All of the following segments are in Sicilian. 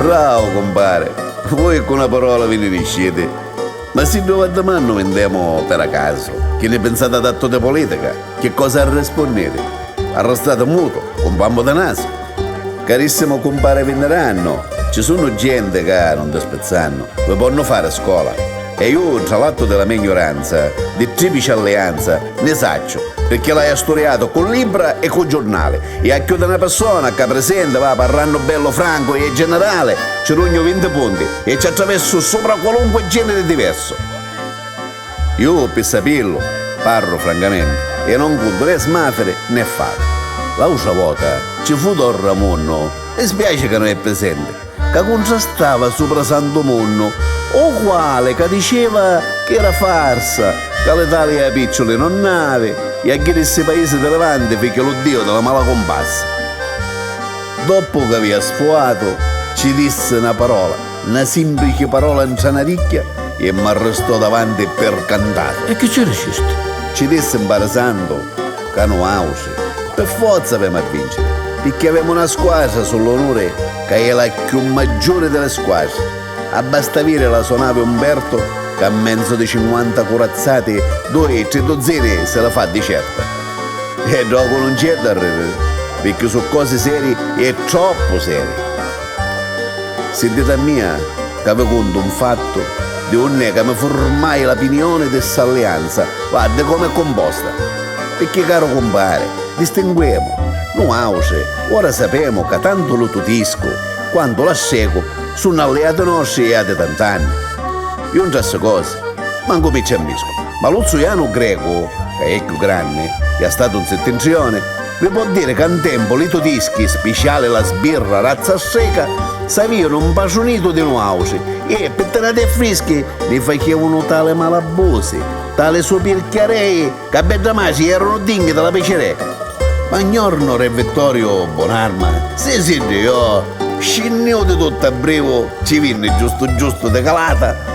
Brravu cumpari! Vui ccu na parola vi ni nisciti. Ma siddu v'addimannu mi ndemu pera casu, chi ni pinsati adattu di pulitica? Chi cosa arrispunniri? Arrastati mutu, cu 'n pammu di nasu. Carissimu cumpari vinnirannu, ci sunnu genti ca, nun dispizzannu, vi ponnu fari scola. E ju, tra l'attu di la me gnuranza, di triplici allianza, nni sacciu, pirchì l'haiu asturiatu cu libbra e cu giurnali, e a cchiù di na pirsona ccà prisenti, va, parrannu bellu francu e generali, ci rugnu vinti punti e ci attraversu supra qualunqui geniri diversu. Ju, pi sapillu, parru francamenti, e non cuntu né smafiri né fata. L'autra vota ci fu don Ramunnu, mi spiaci ca non è prisenti, ca cuntrastava supra Santu Munnu, u quali ca diceva chi era farsa, ca l'Italia picciuli non n'avi, i a ghiri ssi paisi di Levanti fichi lu diu di la mala cumpassa. Doppu ca avia sfuatu, ci dissi na parola. 'na simprici parola 'ntra 'na ricchia e m'arrestò davanti per cantari. E chi ci ricisti? Ci dissi 'mparasandu ca nuautri per forza avemu a vinciri pirchì avemu 'na squadra su l'onuri ca è la cchiù maggiuri di li squadri. Abbasta viri la so navi Umberto ca a menzu di cinquanta curazzati dui, tri duzzini si li fa di certa. E ddocu nun c'è da riri pirchì su cosi seri e troppu seri. Si diti a mia ca vi cuntu un fattu di unni è ca mi furmai la pinioni di st'allianza, va, di comu è cumposta. Picchì caru cumpari, distinguemu, nuautri ora sapemu ca tantu lu tutiscu quantu l'astrecu sunnu alliati nostri jia di tant'anni. Ju ntra ssi cosi mancu mi ci ammiscu, ma lu zuianu grecu, ca è cchiù granni, jia statu un sittintrioni, Vi po' diri ca 'n tempu li tudischi, spiciali la sbirra razza streca, s'avìanu 'mpatrunitu di nuàutri e, pi tirati e frischi, ni facìavunu tali malabusi, tali supirchiarei, ca bedda matri ierunu dinghi di la picireca. Ma 'n jornu re Vittoriu Bunarma, si si ddijò, scinnìu di tuttu a brivu, ci vinni giustu giustu di calata,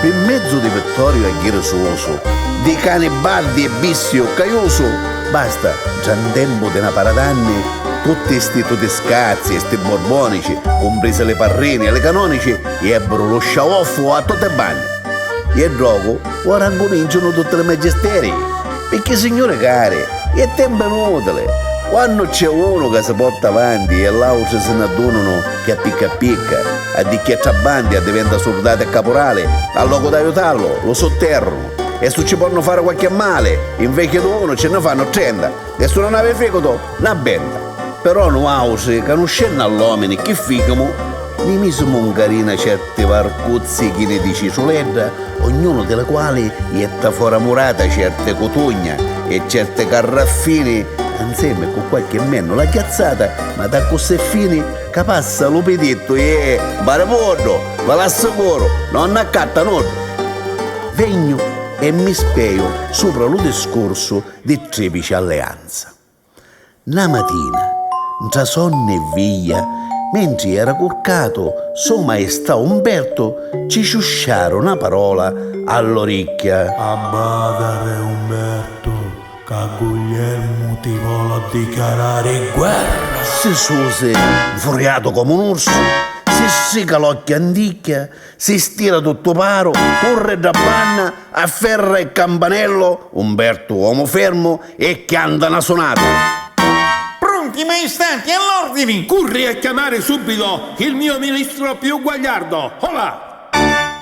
Pi mmezzu di Vittoriu e Ghirisuusu, di cani bardi e bisti uccaiusu, basta, ntra ntempu di na para d'anni, tutti sti tudiscazzi e sti burbonici, cumprisi li parrini e li canonici, iebburu lu sciauoffu a tutti i banni. Ie ddrogu ora ncuminciunu tutti li magisterii, picchì signuri cari, ie tempu inutili, quannu cc'è unu ca si porta avanti ie l'autri si n'addununu, Ca picca picca, a di chiettra abbandi addiventa surdati e capurali, a locu d'aiutallu, lu sutterrunu. E su ci ponnu fari qualche mali, invechi d'unu, ci nni fannu trenta, e su non havi ficutu, na benta. Però nuautri, canuscennu a l'omini, chi ficumu? Ni misimu 'n carina certi. Ti varcuzzi chini di citruledda, ognunu di li quali jetta fora murata certi cutugna e certi carraffini, anzemi cu qualchi mennula chiazzata, ma d'accussì fini ca passa lu pidittu e, baribuddu, vi l'assicuru, non nni accatta nuddu. Vegnu e mi speju supra lu discursu di triplici alleanza. Na matina, ntra sonni e viglia, mentri era curcatu So Maestà Umbertu ci ciusciaru na parola a l'oricchia. Abbata re Umbertu, ca Guglielmu ti voli addichiarari guerra! Si susi nfuriatu comu un ursu, si strica l'occhi anticchia Si stira tuttu paru, curri dda banna, afferra il campanello, Umbertu omu fermu, e chianta na sunata. Pronti maistati, all'ordini! Curri a chiamari subido il mio ministro più guagliardo! Hola!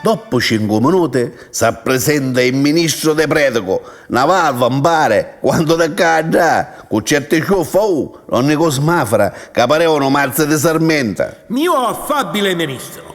Doppu cincu minuti s'apprisenta il ministro de preticu, na valva mpari quantu de ccà a ddà, cu certi ciuffa, uh! Donni Cosmafra ca pareva nu mazzi di sarmenta. Mio affabile ministro,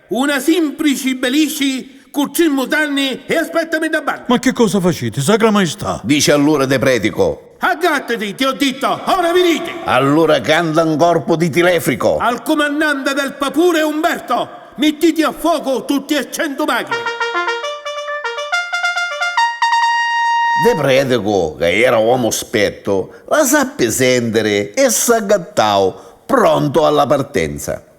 Una simprici belisci cu tri mutanni e aspettami dda banna. Ma che cosa faciti, Sacra Maistà? Dici allura te pretico. Aggattati, ti ho ditto, ora viditi! Allura canta un corpu di tilefrico. Al cumannante del papure Umberto, mittiti a fuocu tutti e centu machini. De pretico, ca era uomo spetto, la sappi sentiri e s'aggattau, prontu alla partenza.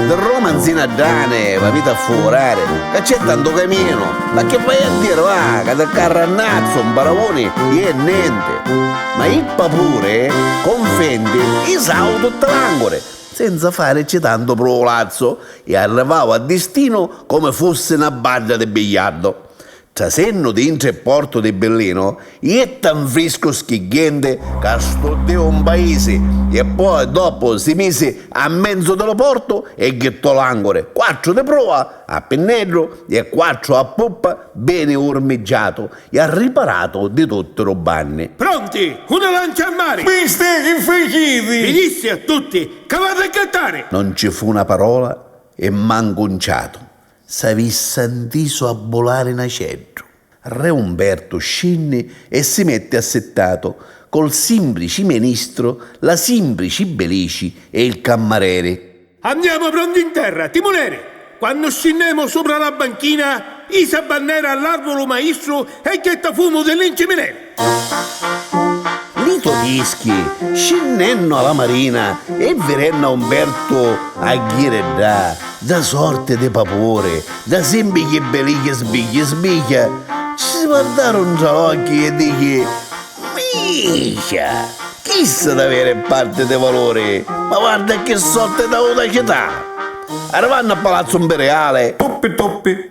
Di Roma nzi na ddane v'aviti a fuvurari, ca cc'è tantu caminu, ma chi vai a diri, va, ca di Carrannazzu 'n paravuni i è nenti. Ma jippa puri, confendi, isau tutti l'anguri, senza farici tantu pruvulazzu, i arrivau a distinu comi fussi na badda di bigliardu. Trasennu dintra e portu di Billinu, jetta nfriscu schigghienti ca studdiu un paisi e poi doppu si misi a menzu di lu portu e jittò l'anguri, quattru di prua, a pinneddu, e quattru a puppa, beni urmiggiatu e arriparatu di tutti lu banni. Pronti, cu na lancia a mari! Misti, chi faciti? Vi dissi a tutti ca v'hatu a gattari! Non ci fu na parola e mancu un ciatu, S'avissa 'ntisu abbulari n'aceddu. Re Umbertu scinni e si metti assittatu col simbrici menistru, la simbrici belici e il cammareri. Andiamo prondi 'nterra, timuneri! Quannu scinnemu supra la banchina, isa bannera all'arvulu maistru e jetta fumu di li 'ncimineri! Li to dischi, scinnennu a la marina e virennu a Umbertu a ghiri ddà, dda sorti di papuri, dda simbichi bilichi sbigghi sbighia, ci si vardaru ntra l'occhi e dichi, Minchia! Chista daveri è parti di valuri, ma varda a chi sorti d'audacità! Arrivannu a Palazzu Mpiriali. Tuppi tuppi.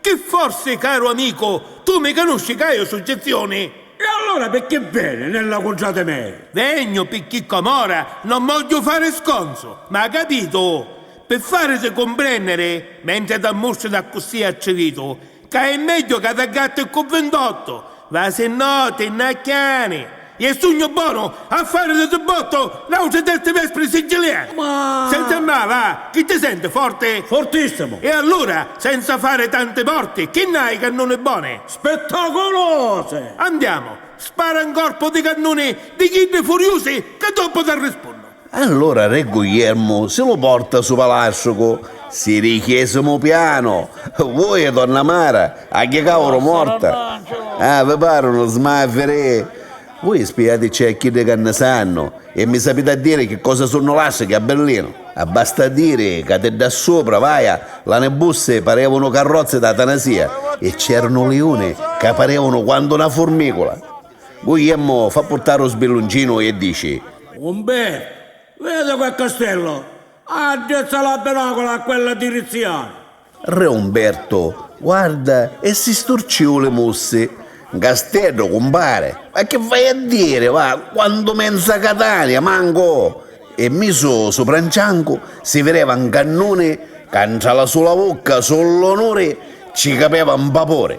Chi forsi, caru amicu, tu mi canusci ca io su Gezioni? E allora picchì veni nella cuntrati mei? Vegnu picchì com'ora non vogghiu fari sconzu, m'ha' capitu? Pi fariti cumprenniri, mentri t'ammustri d'accussì attrivitu, ca è megghiu ca t'aggatti ccu vintottu, Va si no ti nnacchiani! Je sugnu bonu a fari di zubbottu n'autri sesti vespri siciliani! Ma. Senza ma, va! Chi ti senti, forti? Fortissimu! E allura, senza fari tanti morti, chi nn'hai i cannuni boni? Spettaculosi! Andiamu, spara 'n corpu di cannuni di chiddi furiusi ca doppu t'arrispunnu! Allora re Gugliermu si lu porta su palastrucu, si ri chiesimu pianu, Vui e donna Mara agghia ca uru morta, ah, vi parunu smaviri? Vui spiaticci a chiddi ca nni sannu e mi sapiti a diri chi cosa sunnu lastrichi a Berlinu? Abbasta diri ca di ddà supra, vaja, l'ani bussi parevunu carrozzi d'atanasia e c'erunu liuni ca parevunu quantu na furmicula. Guglielmo fa purtari u sbillunginu e dici. Umberto, vedi quel castello? Addrizza la binocula a quella dirizzioni. Re Umberto guarda e si sturciu li mussi. N casteddu, cumpari? Ma chi vai a diri, va, quantu menza Catania, mancu! E misu supra n ciancu si vireva n cannuni ca ntra la sula vucca su l'onuri ci capeva n vapuri.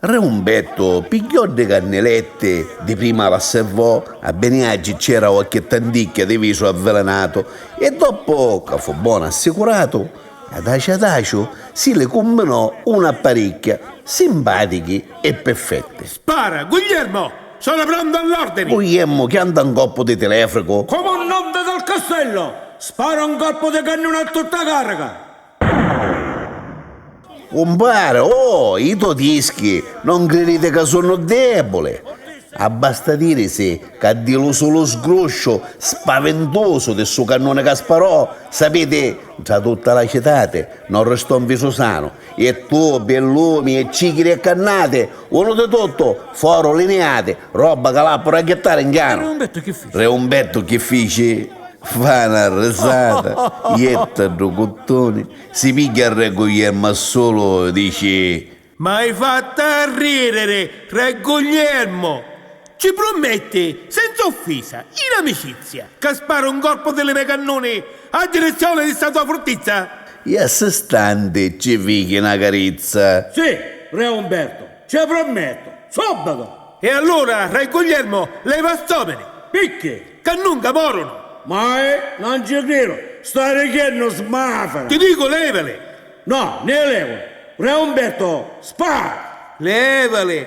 Re Umbettu pigghiò ddi canniletti, di prima l'asservò a Beniaggi c'era uacchi tanticchia di visu avvelenatu e doppu ca fu bonu assicuratu, adaciu adaciu si li cumbinò una paricchia, simpatichi e pirfetti. Spara! Guglielmo! Sono prontu all'ordini! Guglielmo chianta un colpu di telefricu. Comandante del castello! Spara un colpu di cannuna a tutta carica! Cumpari, oh, i to dischi non criditi ca sunnu debuli? Abbasta dirisi ca di lu sulu sgrusciu spavintusu di stu cannuni ca sparò, sapiti, ntra tutta la citati non ristò nfisu sanu, e tubi, e lumi, e cicchiri e cannati, Unu di tuttu foru liniati, robba ca l'appu ra jittari in chianu. Re Umbettu chi fici? Fa na risata, jetta ddu cuttuni, si pigghia Rre Guglielmu a sulu, dici. M'hai fattu arridiri, Rre Guglielmu! Ci prummetti, senza offisa, in amicizia, ca sparu un corpu di li me cannuni a direzione di sta tua furtizza? I assistanti ci fichi na carizza. Si, re Umberto, ce prummettu, subito! E allura, re Guglielmo, lei va stomini. Picchi? Ca nunca morunu! Mai? Non ci cridu! Stai dicennu smafera! Ti dicu, levali! No, ni li levu! Re Umberto, spara! Levali!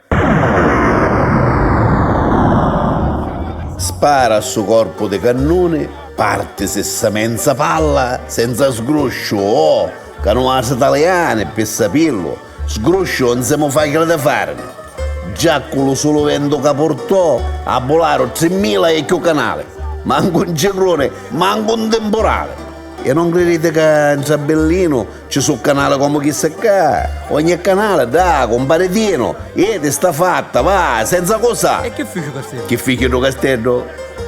Spara a stu corpu di cannuni, partisi sta menza palla senza sgrusciu, oh! Ca nu matri taliani, pi sapillu, sgrusciu un si mu facili di farini. Già cu lu sulu ventu ca purtò abbularu trimmila e cchiù canali, mancu un cicluni, mancu un timpurali. E non criditi ca ntra Billinu Ci su canali comu chissi ccà? Ogni canali dà cumpari Tinu! Iti, sta fatta, va, senza cusà! E chi fici u casteddu? Chi fici ddu casteddu?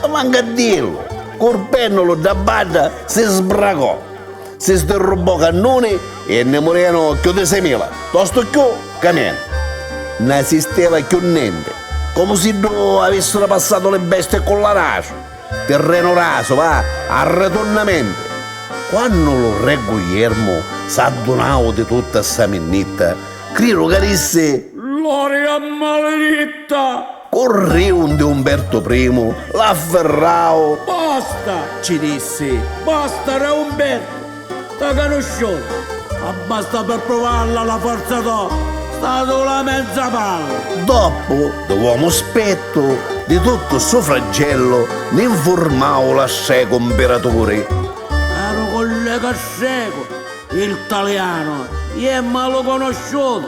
Mancu a dillu! Cu ru pennulu dda badda si sbracò, si sdirrubbò cannuni e nni murenu cchiù di seimila, tostu cchiù ca menu. Nn'asisteva cchiù nenti, comu siddu avissiru passatu li bestii ccu l'arasu. Tirrenu rasu, va, arretunnamentu! Quannu lu Re Gugliermu s'addunau di tutta ssa minnitta, criru ca dissi. Gloria a maliritta! Curriu ndi Umbertu Primu, l'affirrau. Basta! cci dissi. Basta, Re Umbertu! Sta canusciuta abbasta per pruvarla la forza to sta sula mezza palla. Doppu di l'uomu spettu di tuttu stu fraggellu ni nfurmau la strecu mpiraturi. A nu collega strecu il talianu ie malu conosciutu.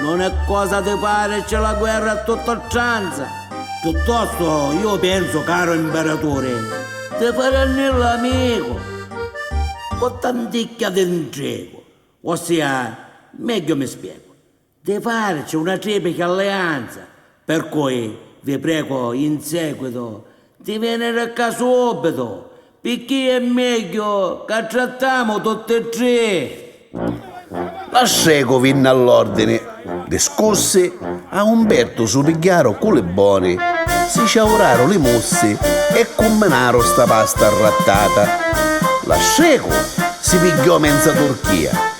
Non è cosa di pari, c'è la guerra a tutta oltranza. Piuttosto, io penso, caro imperaturi, di farenni l'amicu, cu tanticchia di ntrigu, ossia, megghiu mi spiegu, di farici una triplichi allianza, Per cui vi prego in seguito di veniri ccà subitu picchì è megghiu ca trattamu tutti e tri. L'astregu vinni all'ordini. Discussi, a Umbertu su pigghiaru cu li boni, si ciauraru li mussi e cumminaru sta pasta arrattata. L'astregu si pigghiò menza turchia.